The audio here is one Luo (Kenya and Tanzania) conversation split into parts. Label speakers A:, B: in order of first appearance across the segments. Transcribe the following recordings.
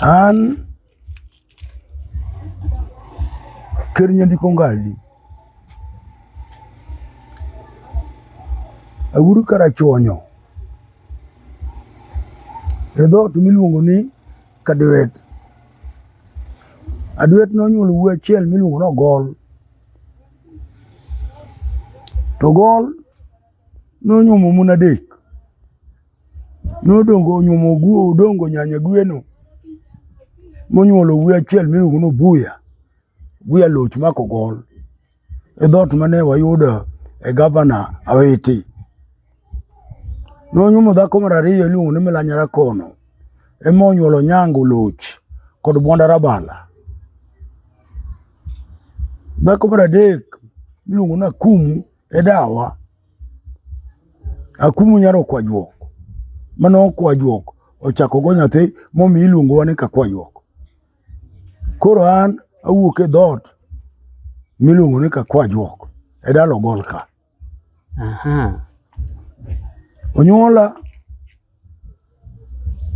A: An ker nyandiko ngaji aguru karachuonyo e dhoot miluongo ni Kadwet. Adwet nonyuolo wuoyi achiel miluongo ni Ogol. To Ogol nonyuomo mon adek nodongo onyuomo guo odongo nyanya gweno monyuolo wuoyi achiel miluongo no buya buya loch mako gol e dhoot mane wayudo e gavana awiti nonyuomo dhako mar ariyo iluongo ni milanyara kono ema onyuolo nyango loch kod bwanda rabala dhako mar adek miluongo ni akumu edawa akumu nyar okwajuok mane okwajuok ochako go nyathi momi iluongowa ni kakwajuok koro an awuok e dhoot miluongo ni kakwajuok e dalo golka onyuola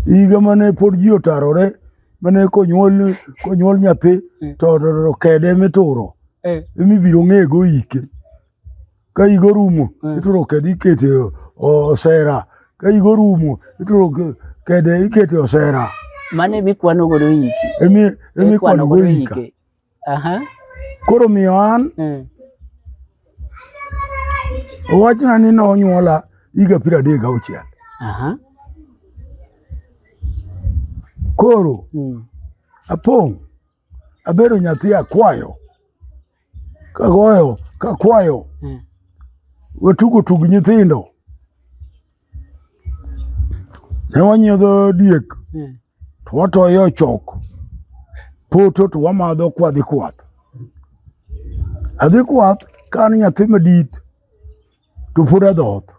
A: higa mane pod ji otarore mane konyuol konyuol nyathi eh. to kede mituro eh. emibiro ng'ego ike ka higa orumo eh. ituro kede ikete osera ka higa orumo ituro kede ikete osera mane mikwano
B: godo ike emi emi kwano
A: godo ike Aha. Koro miyo an Mm. owachna ni nonyuola higa piero adek gauchiel. Aha. Koro Mm. apong' abedo nyathi akwayo kagoyo kakwayo Mm. watugo tug nyithindo ne wanyiedho diek hmm. to watoye ochok poto to wamadho kwadhi kwath adhi kwath ka an nyathi madit to pod adhoth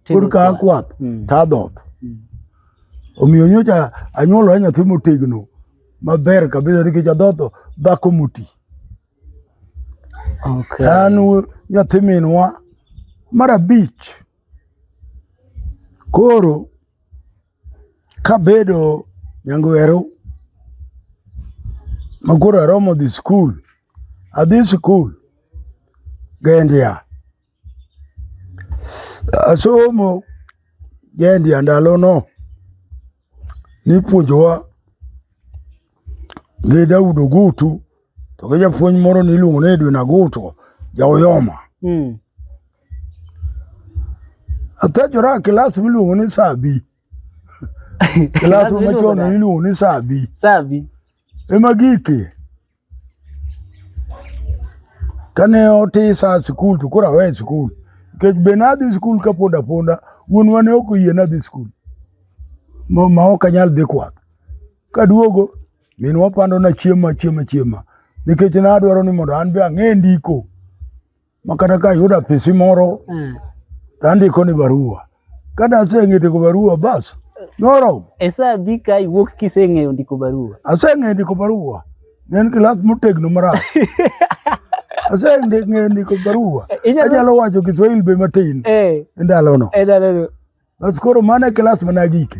A: pod ka akwath hmm. to adhoth hmm. omiyo nyocha anyuolora nyathi motegno maber kabisa nikech adhodho dhako moti an nyathi minwa mar abich Koro kabedo nyangweru ma koro aromo dhi skul, adhi skul gendia. Asomo gendia ndalono. nipuonjowa gi Daud Ogutu to gi japuonj moro niluongo ni Edwin Agutu jaoyoma mm. athejora kilas miluongo ni sabi kilas machon niluongo ni sabi sabi
B: ema gike
A: Kane otisa sikul to koro awe sikul nikech be nadhi sikul ka pod aponda, wuonwa ne ok oyie nadhi sikul ma ok anyal dhi kwath. Kaduogo minwa pandona chiemo achiema chiema nikech nadwaro ni mondo an be ang'e ndiko. makata ka ayudo apisi moro mm. to andiko ni barua kada aseng'e ndiko barua bas noromo e sa bi ka
B: iwuok kiseng'eyo ndiko barua aseng'eyo ndiko barua
A: ne en kilas motegno marach aseng'eyo ndiko barua eh, anyalo wacho kiswahili be matin eh. e ndalono e bas koro mano e kilas managike